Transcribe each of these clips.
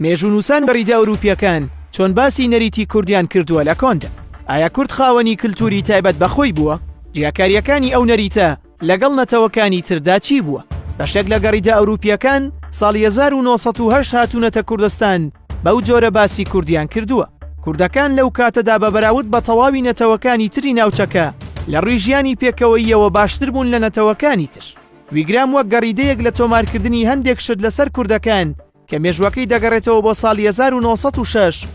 مێژوونووسان بەریدە ئەوروپییەکان چۆن باسی نەریتی کوردیان کردووە لە کۆندا ئایا کورد خاوەنی کللتوری تایبەت بەخۆی بووە جیاکاریەکانی ئەو نەریتە لەگەڵ نەتەوەکانی تردا چی بووە بەشێک لە گەڕیدە ئەوروپیەکان ساڵ 1970 هاتوونەتە کوردستان بەو جۆرە باسی کوردیان کردووە کوردەکان لەو کاتەدا بە بەراود بە تەواوی نەتەوەکانی تری ناوچەکە لە ڕیژیانی پێکەوەیەوە باشتر بوون لە نەتەوەکانی تر ویگرام وەک گەڕیدەیەک لە تۆمارکردنی هەندێک شت لەسەر کوردەکان کە مێژووەکەی دەگەڕێتەوە بۆ ساڵی 1906،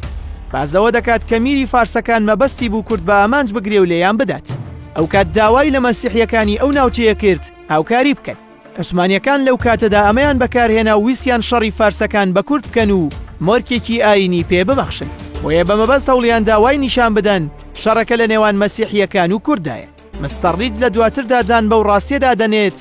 باس لەوە دەکات کە میری فارسەکان مەبەستی بوو کورد بە ئامانج بگرێ و لێیان بدات. ئەو کات داوای لە مەسیحییەکانی ئەو ناوچەیە کرد هاوکاری بکەن. عوسمانییەکان لەو کاتەدا ئەمەیان بەکارهێنا و ویستیان شەڕی فارسەکان بە کورد بکەن و مۆرکێکی ئایینی پێ ببەخشن. بۆیە بە مەبەست هەوڵیان دا وای نیشان بدەن شەڕەکە لە نێوان مەسیحییەکان و کورددایە. مستەڕید لە دواتردا دان بەو ڕاستیەدا دەنێت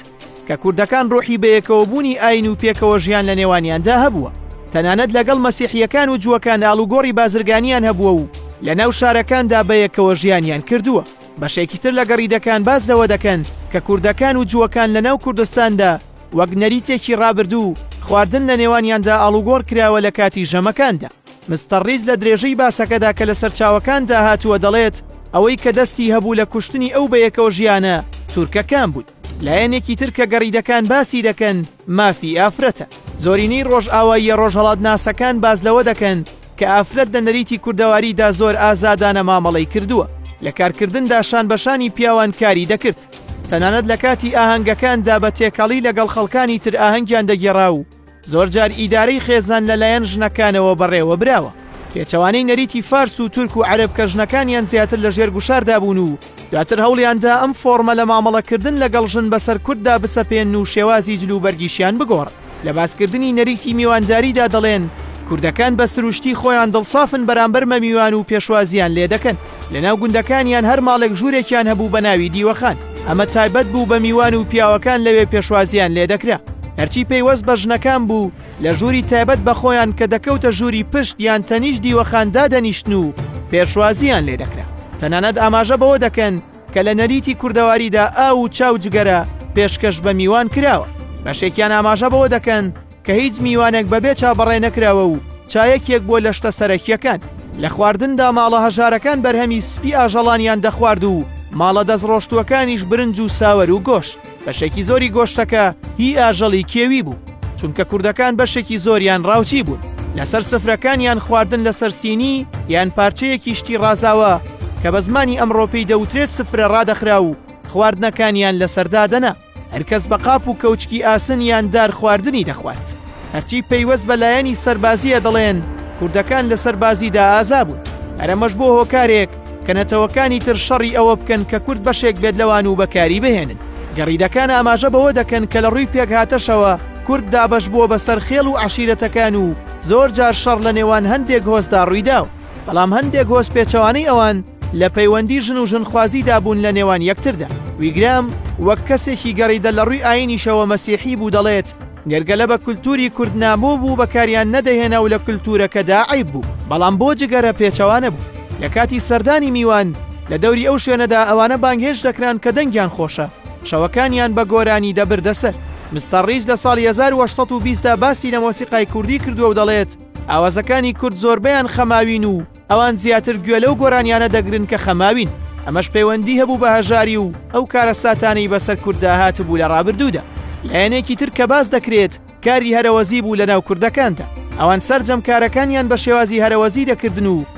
کە کوردەکان ڕۆحی بەیەکەوەبوونی ئاین و پێکەوە ژیان لە نێوانیاندا هەبووە تەنانەت لەگەڵ مەسیحیەکان و جووەکان ئاڵوگۆڕی بازرگانیان هەبووە و لە ناو شارەکاندا بەیەکەوە ژیانیان کردووە بەشێکی تر لە گەڕیدەکان باز لەوە دەکەن کە کوردەکان و جووەکان لە ناو کوردستاندا وەک نەریتێکی ڕابردوو خواردن لە نێوانیاندا ئاڵوگۆڕ کراوە لە کاتی ژەمەکاندا مستەر ڕیچ لە درێژەی باسەکەدا کە لە سەرچاوەکاندا هاتووە دەڵێت، ئەوەی کە دەستی هەبوو لە کوشتنی ئەو بەیەکەوە ژیانە تورکەکان بوون. لایەنێکی تر کە گەڕیدەکان باسی دەکەن مافی ئافرەتە. زۆرینەی ڕۆژئاواییە ڕۆژهەڵاتناسەکان باس لەوە دەکەن کە ئافرەت لە نەریتی کوردەواریدا زۆر ئازادانە مامەڵەی کردووە. لە کارکردندا شانبەشانی پیاوان کاری دەکرد. تەنانەت لە کاتی ئاهەنگەکاندا بە تێکەڵی لەگەڵ خەڵکانی تر ئاهەنگیان دەگێڕا و، زۆرجار ئیدارەی خێزان لەلایەن ژنەکانەوە بەڕێوەبراوە. پێچەوانەی نەریتی فارس و تورک و عەرەب کە ژنەکانیان زیاتر لە ژێر گوشاردا بوون و دواتر هەوڵیاندا ئەم فۆڕمە لە مامەڵەکردن لەگەڵ ژن بەسەر کورددا بسەپێن و شێوازی جلوبەرگیشیان بگۆڕن. لە باسکردنی نەریتی میوانداریدا دەڵێن، کوردەکان بە سروشتی خۆیان دڵسافن بەرامبەر مەمیوان و پێشوازییان لێدەکەن. لەناو گوندەکانیان هەر ماڵێک ژوورێکیان هەبوو بە ناوی دیوەخان ئەمە تایبەت بوو بە میوان و پیاوەکان لەوێ پێشوازیان لێ دەکرا هەرچی پەیوەست بە ژنەکان بوو لە ژووری تایبەت بە خۆیان کە دەکەوتە ژووری پشت یان تەنیش دیوەخان دادەنیشتن و پێشوازیان لێ دەکرا تەنانەت ئاماژە بەوە دەکەن کە لە نەریتی کوردەواریدا ئاو و چاو جگەرە پێشکەش بە میوان کراوە بەشێکیان ئاماژە بەوە دەکەن کە هیچ میوانێک بەبێ چا بەڕێ نەکراوە و چا یەکێک بووە لە شتە سەرەکییەکان. لە خواردندا ماڵە هەژارەکان بەرهەمی سپی ئاژەڵانیان دەخوارد و ماڵە دەستڕۆشتووەکانیش برنج و ساوەر و گۆشت. بەشێکی زۆری گۆشتەکە هی ئاژەڵی کێوی بوو، چونکە کوردەکان بەشێکی زۆریان ڕاوچی بوون. لەسەر سفرەکانیان خواردن لەسەر سینی یان پارچەیەکی شتی ڕازاوە کە بە زمانی ئەمڕۆ پێی دەوترێت سفرە ڕادەخرا و خواردنەکانیان لەسەر دادەنا. هەرکەس بە قاپ و کەوچکی ئاسن یان دار خواردنی دەخوات هەرچی پەیوەست بە لایەنی سەربازیە دەڵێن کوردەکان لە سەربازیدا ئازا بوون ئەرەمەش بۆ هۆکارێک کە نەتەوەکانی تر شەڕی ئەوە بکەن کە کورد بەشێک بێت لەوان و بەکاری بهێنن گەڕیدەکان ئاماژە بەوە دەکەن کە لە ڕووی پێکهاتەشەوە کورد دابەش بووە بەسەر خێڵ و عشیرەتەکان و زۆر جار شەڕ لە نێوان هەندێک هۆزدا ڕوویداوە بەڵام هەندێک هۆز پێچەوانەی ئەوان لە پەیوەندی ژن و ژنخوازیدا بوون لە نێوان یەکتردا ویگرام وەک کەسێکی گەڕیدە لە ڕووی ئاینیشەوە مەسیحی بوو دەڵێت نێرگەلە بە کولتوری کورد نامۆ بوو بەکاریان نەدەهێنا و لە کولتورەکەدا عیب بوو بەڵام بۆ جگەرە پێچەوانە بوو لە کاتی سەردانی میوان لە دەوری ئەو شوێنەدا ئەوانە بانگهێش دەکران کە دەنگیان خۆشە شەوەکانیان بە گۆرانی دەبردەسەر مستەڕیج لە ساڵی 1920دا باسی لە مۆسیقای کوردی کردووە و دەڵێت ئاوازەکانی کورد زۆربەیان خەماوین و ئەوان زیاتر گوێ لەو گۆرانیانە دەگرن کە خەماوین ئەمەش پەیوەندی هەبوو بە هەژاری و ئەو کارەساتانەی بەسەر کورددا هاتبوو لە ڕابردوودا لایەنێکی تر کە باس دەکرێت کاری هەرەوەزی بوو لەناو کوردەکاندا ئەوان سەرجەم کارەکانیان بە شێوازی هەرەوەزی دەکردن و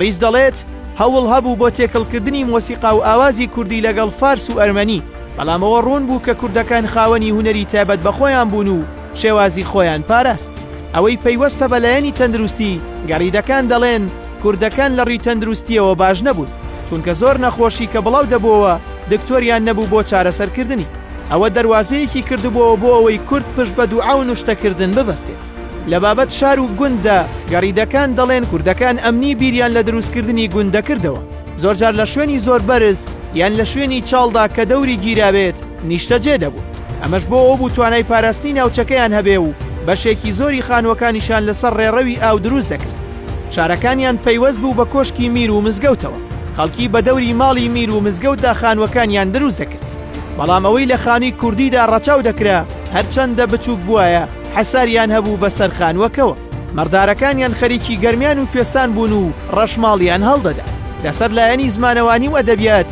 ڕیز دەڵێت، هەوڵ هەبوو بۆ تێکەڵکردنی مۆسیقا و ئاوازی کوردی لەگەڵ فارس و ئەرمەنی، بەڵام ئەوە ڕوون بوو کە کوردەکان خاوەنی هونەری تایبەت بە خۆیان بوون و شێوازی خۆیان پاراست. ئەوەی پەیوەستە بە لایەنی تەندروستی، گەریدەکان دەڵێن کوردەکان لە ڕوی تەندروستیەوە باش نەبوون، چونکە زۆر نەخۆشی کە بڵاو دەبۆوە دکتۆریان نەبوو بۆ چارەسەر کردنی، ئەوە دەروازەیەکی کردبۆوە بۆ ئەوەی کورد پشت بە دوعا و نوشتە کردن ببەستێت. لە بابەت شار و گونددا، گەریدەکان دەڵێن کوردەکان ئەمنی بیریان لە دروست کردنی گوند دەکردەوە، زۆرجار لە شوێنی زۆر بەرز یان لە شوێنی چاڵدا کە دەوری گیرابێت، نیشتەجێ دەبوون، ئەمەش بۆ ئەوبوو توانای پاراستنی ناوچەکەیان هەبێ و بەشێکی زۆری خانووەکانیشیان لەسەر ڕێڕەوی ئاو دروست دەکرد. شارەکانیان پەیوەست بوو بە کۆشکی میر و مزگەوتەوە، خەڵکی بە دەوری ماڵی میر و مزگەوتدا خانووەکانیان دروست دەکرد، بەڵام ئەوەی لە خانووی کوردیدا ڕەچاو دەکرا هەرچەندە بچووک بوایە حەساریان هەبوو بەسەر خانووەکەوە. مەڕدارەکانیان خەریکی گەرمیان و کوێستان بوون و ڕەشماڵیان هەڵدەدا. لەسەر لایەنی زمانەوانی و ئەدەبیات،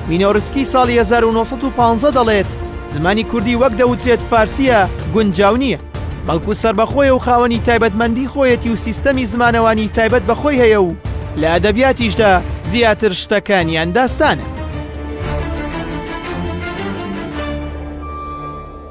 مینۆرسکی ساڵی هەزار و نۆ سەد و پازدە دەڵێت، زمانی کوردی وەک دەوترێت فارسییە، گونجاو نییە. بەڵکو سەربەخۆیە و خاوەنی تایبەتمەندیی خۆیەتی و سیستەمی زمانەوانیی تایبەت بە خۆی هەیە و لە ئەدەبیاتیشدا زیاتر شتەکانیان داستانە.